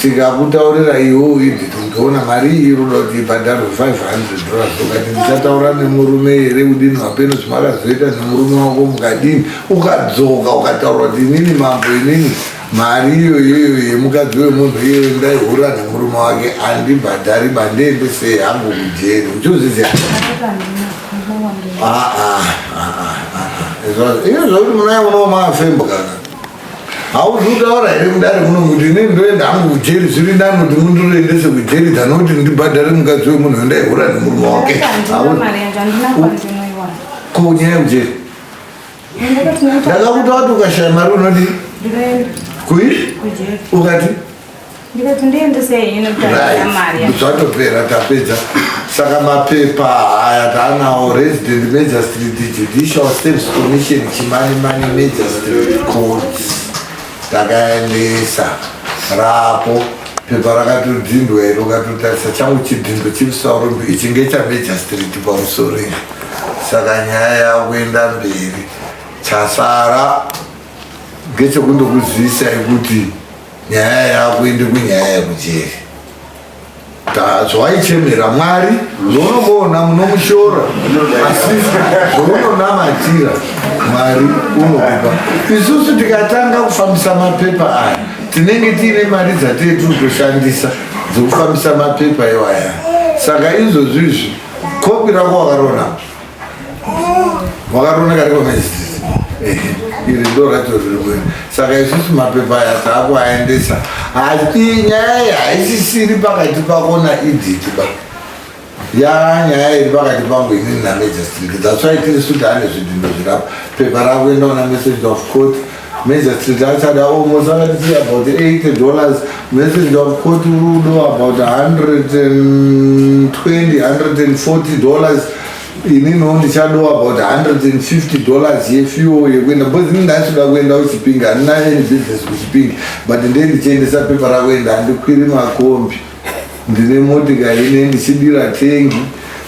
tikakutaurira iwo uidi tindiona mari iyi ruda kuti ibhadharwe 500 dollars ukati ndichataura nemurume here kudini wapeno zvimakazoita nemurume wako mukadini ukadzoka ukataura kuti inini mambo inini mari iyo iyoyo yemukadzi wemunhu iyoyo ndaihura nemurume wake andibhadhari bandiende sei hangu kujeri uchozviziva aa ah, ah, ah, iyo zvakuti munaye unomafembwa kana hauzi kutaura here kudare muno kuti ini ndoenda hangu kujeri zviri nani kuti mundiroendese kujeri tano kuti ndibhadhare mukadzi wemunhu andaihura nemurume wake ko nyaya yekujeri ndakakuta wati ukashaya mari unodii kui ukati ndikati ndiendesei ino mari zvatopera tapedza saka mapepa haya taanawo resident major street judicial service commission chimanimani major street courts takaendesa rapo pepa rakatodzindwa iro ukatotarisa changu chidhindo chimusaurombe ichi ngechamajor street pamusoro izvi saka nyaya yakuenda mberi chasara ngechekundokuzivisa yekuti nyaya yako indi kunyaya yekujeri zvawaichemera mwari zvounongoona munomushora asi zvounonamatira mwari unokupa isusu tikatanga kufambisa mapepa aya tinenge tiine mari dzatee tiri kutoshandisa dzokufambisa mapepa iwaya saka izvozvizvi kopi rako wakarona Wakaona kari kwa iri ndo racho rirwe saka isusu mapepa aya taakuaendesa asi nyaya iyi haisisiri pakati pako naidhiti ba ya nyaya iri pakati pangu inini namajestrik that's why tiri sudane zvidhindo zvirapa pepa rakuenda una message of court Magistrate answered, oh, Mosanga, this is about 80 dollars. Message of court rudo about 120, 140 dollars. inino ndichadowa about 150 dollars yefuel yekuenda because ini ndaisoda kuenda kuchipingi handina any business kuchipingi but ndee ndichiendesa pepa rakuenda handikwiri makombi ndine motikari ine ndichidira tengi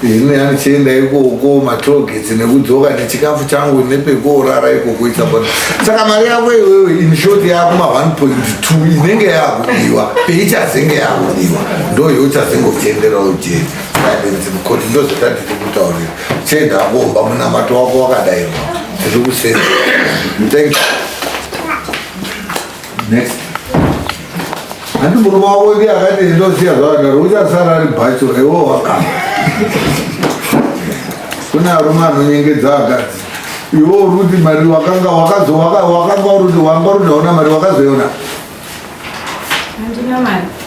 ini andichienda ikoko matrogets nekudzoka nechikafu changu nepekuorara ikoko isabona saka mari yako iwewe inshort yako ma 1.2 inenge yakudiwa peichazenge yakudiwa ndo yochazenge uchiendera ujeti koti ndozvatandiri kutaurira chienda akomba munamato wako wakadairwa tiri kusenda thank you Next. Ati murume wako ndiye akati ndoziya zvakadaro uchasara ari bhacho iwo wakama kune arume anonyengedza akadzi iwo uruti mari wakanga wakazo wakanga uruti wanga uruti hauna mari wakazoiona handina mari